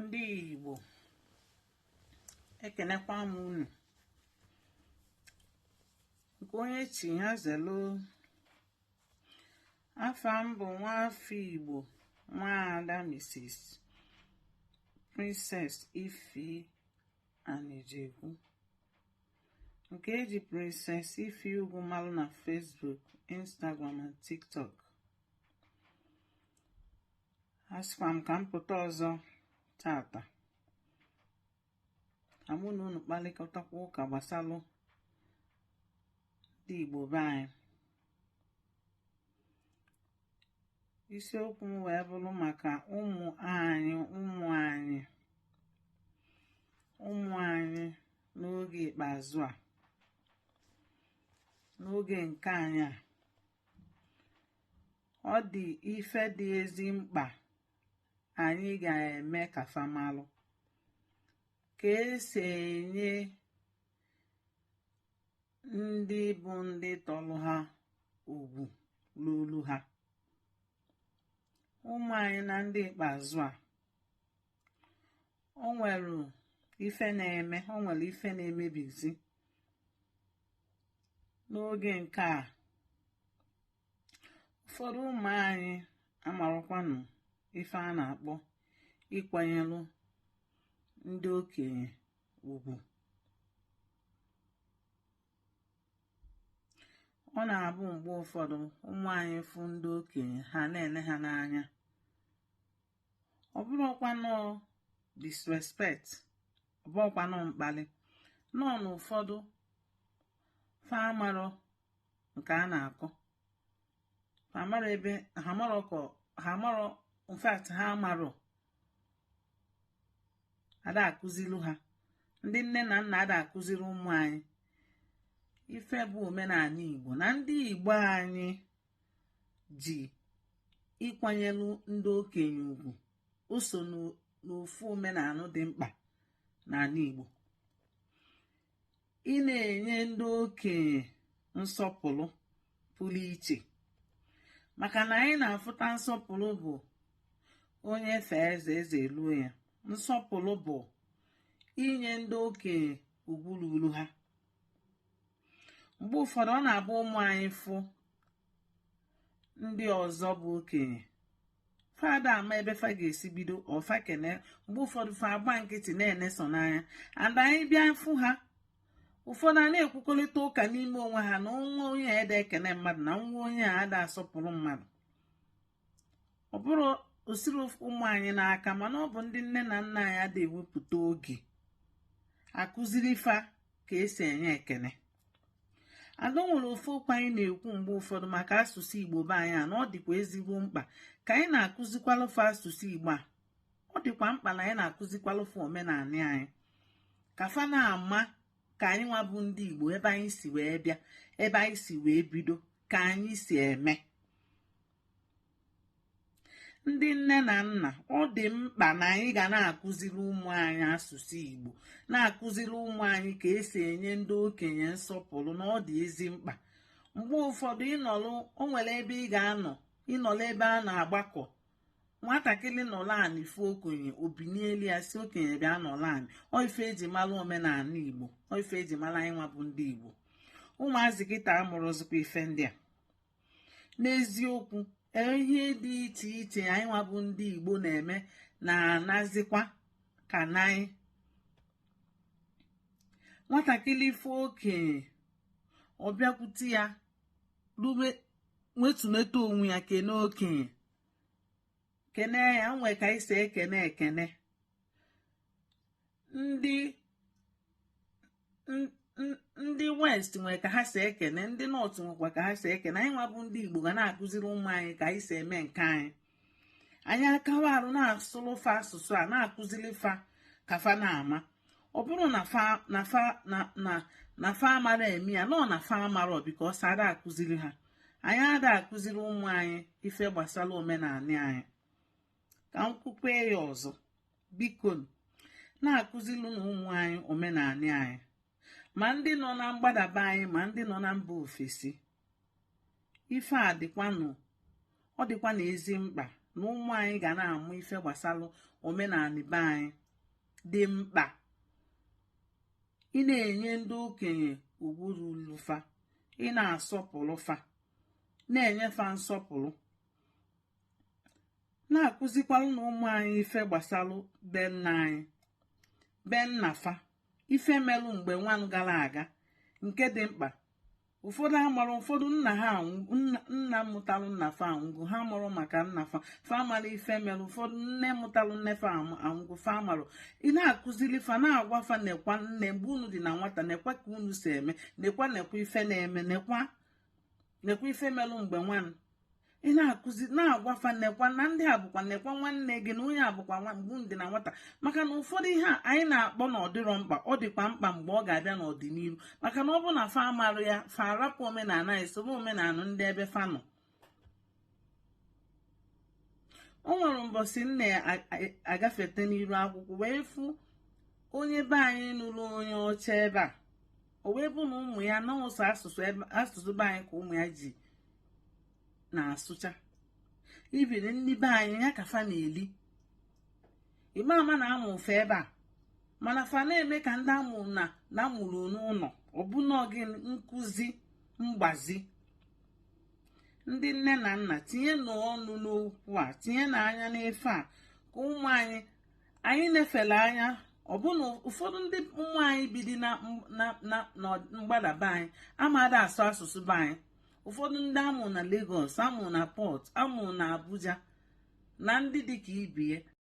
ndị Igbo ekenekwa m unu nke onye chi ya zelu afa m bụ nwaafọ Igbo nwaada Mrs. Princess Ify Anijekwu nke eji Princess Ify Ugwu malụ na Facebook, Instagram and TikTok asịkwa m ka m pụta ọzọ tata ka mụ na unu kpalịkọtakwa ụka gbasalụ ndị Igbo be anyị isiokwu m wee bụrụ maka ụmụ anyị ụmụ anyị ụmụ anyị n'oge ikpeazụ a n'oge nke anyị a ọ dị ife dị ezi mkpa anyị ga-eme ka fa malụ ka esi enye ndị bụ ndị tọrọ ha ugwu lulu ha ụmụ anyị na ndị ikpeazụ a o nwere ife na-eme o nwere ife na-emebizi n'oge nke a ụfọdụ ụmụ anyị amarọkwanụ ife a na-akpọ ịkwanyelụ ndị okenye ugwu ọ na-abụ mgbe ụfọdụ ụmụ anyị fụ ndị okenye ha na-ene ha n'anya ọ bụrọkwanụ disrespect ọ bụrọkwanụ mkpalị no n'ụfọdụ fa amarọ nke a na-akọ fa amarọ ebe ha marọ ka ha marọ in fact ha amarọ ada akụzilu ha ndị nne na nna ada akụziri ụmụ anyị ife bụ omenanị igbo na ndị igbo anyị ji ịkwanyelụ ndị okenye ugwu o so n'ofu omenanị dị mkpa n'anị Igbo ị na-enye ndị okenye nsọpụlụ pụlụ iche maka na anyị na-afụta nsọpụlụ bụ onye fee eze eze eluo ya nsọpụlụ bụ inye ndị okenye ugwu lulu ha mgbe ụfọdụ ọ na-abụ ụmụ anyị fụ ndị ọzọ bụ okenye fa ada ama ebe fa ga-esi bido or fa kene mgbe ụfọdụ fa agba nkịtị na-ene sọ n'anya and anyị bịa fụ ha ụfọdụ a na-ekwukọlịta ụka n'ime onwe ha na nwa onye a ada ekene mmadụ na nwa onye a ada asọpụrụ mmadụ ọ bụrọ o siri ụmụ anyị n'aka mana ọ bụ ndị nne na nna anyị ada ewepụta oge akụziri fa ka esi enye ekene ada nwere ofu okwu anyị na-ekwu mgbe ụfọdụ maka asụsụ igbo be anyị a na ọ dịkwa ezigbo mkpa ka anyị na-akụzikwalụ fa asụsụ igbo a ọ dịkwa mkpa na anyị na-akụzikwalụ fa omenani anyị ka fa na-ama ka anyị nwa bụ ndị igbo ebe anyị si wee bịa ebe anyị si wee bido ka anyị si eme ndị nne na nna ọ dị mkpa na anyị ga na-akụziri ụmụ anyị asụsụ Igbo na-akụziri ụmụ anyị ka esi enye ndị okenye nsọpụrụ na ọ dị ezi mkpa mgbe ụfọdụ ị nọlụ o nwere ebe ị ga-anọ ị nọlụ ebe a na-agbakọ nwatakịrị nọrọ anị fụ okenye o binielu ya sị okenye bịa nọrọ anị ọ ife eji mara omenani igbo ọ ife eji mara anyị nwa bụ ndị igbo ụmụazị kịta amụrọzikwa ife ndị a n'eziokwu ihe dị iche iche anyị nwa bụ ndị igbo na-eme na-anazikwa ka n'anyị nwatakịrị fụ okenye ọ bịakwute ya rube wetuneta onwe ya kene okenye kene ya nwee ka anyị si ekene ekene ndị ndị west nwere ka ha si ekene ndị north nwekwa ka ha si ekene anyị nwa bụ ndị igbo ga na-akụziri ụmụ anyị ka anyị si eme nke anyị anyị akawa arụ na-asụrụ fa asụsụ a na-akụziri fa ka fa na-ama ọ bụrụ na fa amara eme ya nọọ na fa amarọ because ada akụziri ha anyị ada akụziri ụmụ anyị ife gbasara omenani anyị ka m kwukwe ya ọzọ biko na-akụziri nụ ụmụ anyị omenani anyị ma ndị nọ na mgbada be anyị ma ndị nọ na mba ofesi ife a dịkwanụ ọ dịkwanụ ezi mkpa na ụmụ anyị ga na-amụ ife gbasalụ omenani be anyị dị mkpa ị na-enye ndị okenye ugwu rulu fa ị na-asọpụrụ fa na-enye fa nsọpụrụ na-akụzikwalụ nụ ụmụ anyị ife gbasalụ be nna anyị be nna fa ife melụ mgbe nwanụ gara aga nke dị mkpa ụfọdụ amarọ ụfọdụ nna ha nna mụtalụ nna fa anwụgo ha amarọ maka nna fa fa amarọ ife melụ ụfọdụ nne mụtalụ nne fa anwụgo fa amarọ ị na-akụziri fa na-agwa fa nekwa na mgbe unu dị na nwata nekwa ka unu si eme nekwa nekwa ife na-eme nekwa nekwa ife melụ mgbe nwanụ ị na-akụzi na-agwa fa nekwa na ndị a bụkwa nekwa nwanne gị na onye a bụkwa mgbe unu dị na nwata maka na ụfọdụ ihe a anyị na-akpọ na ọ dịrọ mkpa ọ dịkwa mkpa mgbe ọ ga-abịa n'ọdịnihu maka na ọ bụ na fa amarọ ya fa arapụ omenala anyị sobe omenala ndị ebe fa nọ o nwere mbọsị m na-agafete n'iru akwụkwọ wee fụ onye be anyị nụrụ onye ọcha ebe a o wee bụ na ụmụ ya na ọ sọ asụsụ be anyị ka ụmụ ya ji na-asụcha ibiri nni be anyị ya ka fa na-eli ị ga-ama na a mụ fa ebe a mana fa na-eme ka ndị a mụ na na a mụrụ n'ụlọ ọbụna gị nkụzi mgbazi ndị nne na nna tinyenu ọnụ n'okwu a tinyenu anya n'ife a ka ụmụ anyị anyị na-efele anya ọbụna ụfọdụ ndị ụmụ anyị bidi na mgbada be anyị amada asụ asụsụ be anyị ụfọdụ ndị a mụ na Lagos a mụ na Port a mụ na Abuja na ndị dịka ibe ya